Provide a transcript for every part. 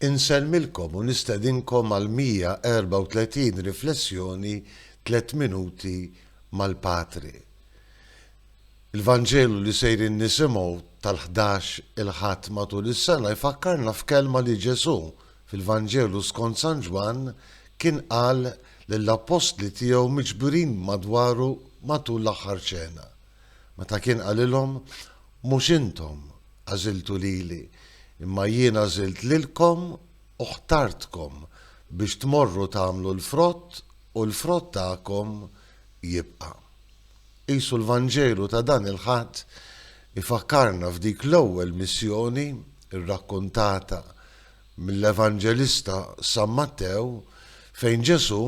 Insellmilkom u nistedinkom għall-134 riflessjoni Tliet Minuti mal-Patri. Il-Vanġelu li sejrin nisimgħu tal-ħdax il-Ħadd matul is-sena jfakkarna f'kelma li Ġesù, fil-Vanġelu skont San Ġwann, kien qal lill-appostli tiegħu miġburin madwaru matul l-Aħħar Ċena. Meta kien qalilhom, Mhux intom għażiltu lili, imma jien għażilt lilkom u ħtartkom biex tmorru tagħmlu l-frott u l-frott tagħkom jibqa'. Qisu l-Vanġelu ta' dan il-Ħadd ifakkarna f'dik l-ewwel missjoni rrakkuntata mill-Evanġelista San Mattew fejn Ġesù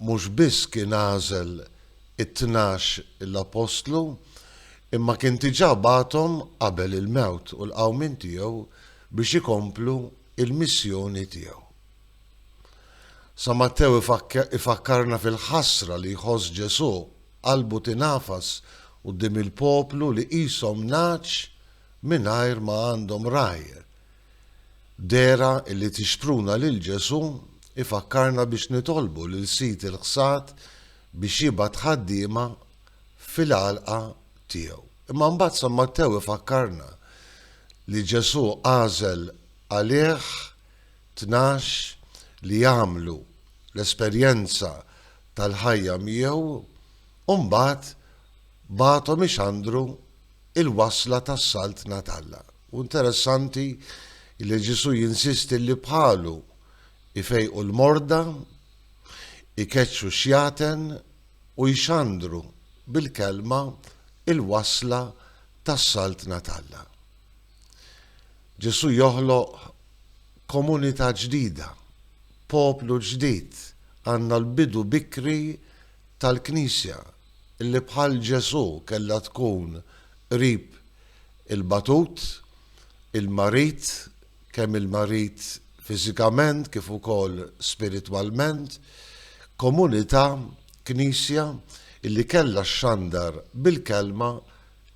Mhux biss kien għażel it-tnax l-appostlu, imma kien diġà bagħathom qabel il-mewt u l-qawmien tiegħu biex ikomplu l-missjoni tiegħu. San Mattew ifakkarna fil-ħasra li jħoss Ġesù, qalbu tingħafas quddiem il-poplu li qishom nagħaġ mingħajr ma għandhom ragħaj, Dehra li tixpruna lil Ġesù jfakkarna biex nitolbu lil Sid il-ħsad biex jibgħat ħaddiema fil-għalqa tiegħu. Imma mbagħad San Mattew ifakkarna li Ġesù għażel għalih tnax li jagħmlu l-esperjenza tal-ħajja miegħu u mbagħad bagħathom ixandru l-wasla tas-Saltna t'Alla. Hu interessanti li Ġesù jinsisti li bħalu ifejqu l-morda, ikeċċu xjaten u jxandru bil-kelma l-wasla tas-Saltna t'Alla. Ġesù joħloq komunità ġdida, poplu ġdid, għandna l-bidu bikri tal-Knisja. li bħal Ġesù kellha tkun qrib il-batut, il-marid, kemm il-marid fiżikament kif ukoll spiritwalment, komunità, Knisja, li kellha xxandar bil-kelma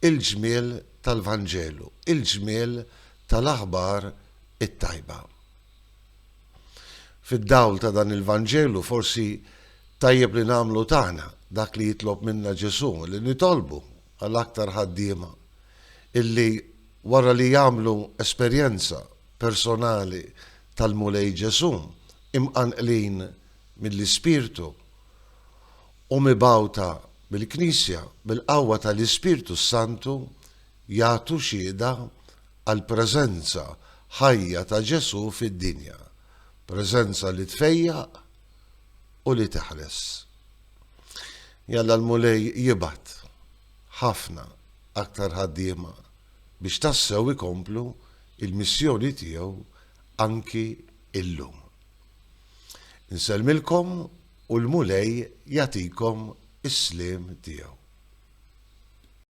l-ġmiel tal-Vanġelu, il-ġmiel tal-aħbar it-tajba. Fid-dawl ta' dan il-Vanġelu forsi tajjeb li nagħmlu tagħna dak li jitlob minna Ġesù, li nitolbu għal aktar ħaddiema illi wara li jagħmlu esperjenza personali tal-Mulej Ġesù, imqanqlin mill-Ispirtu u mibgħuta mill-Knisja bil-qawwa tal-Ispirtu s-Santu, jagħtu xhieda għall-preżenza ħajja ta' Ġesù fid-dinja, preżenza li tfejjaq u li teħles. Jalla l-Mulej jibgħat ħafna aktar ħaddiema biex tassew ikomplu il-missjoni tiegħu anki illum. Nsellmilkom u l-Mulej jagħtikom is-sliem tiegħu.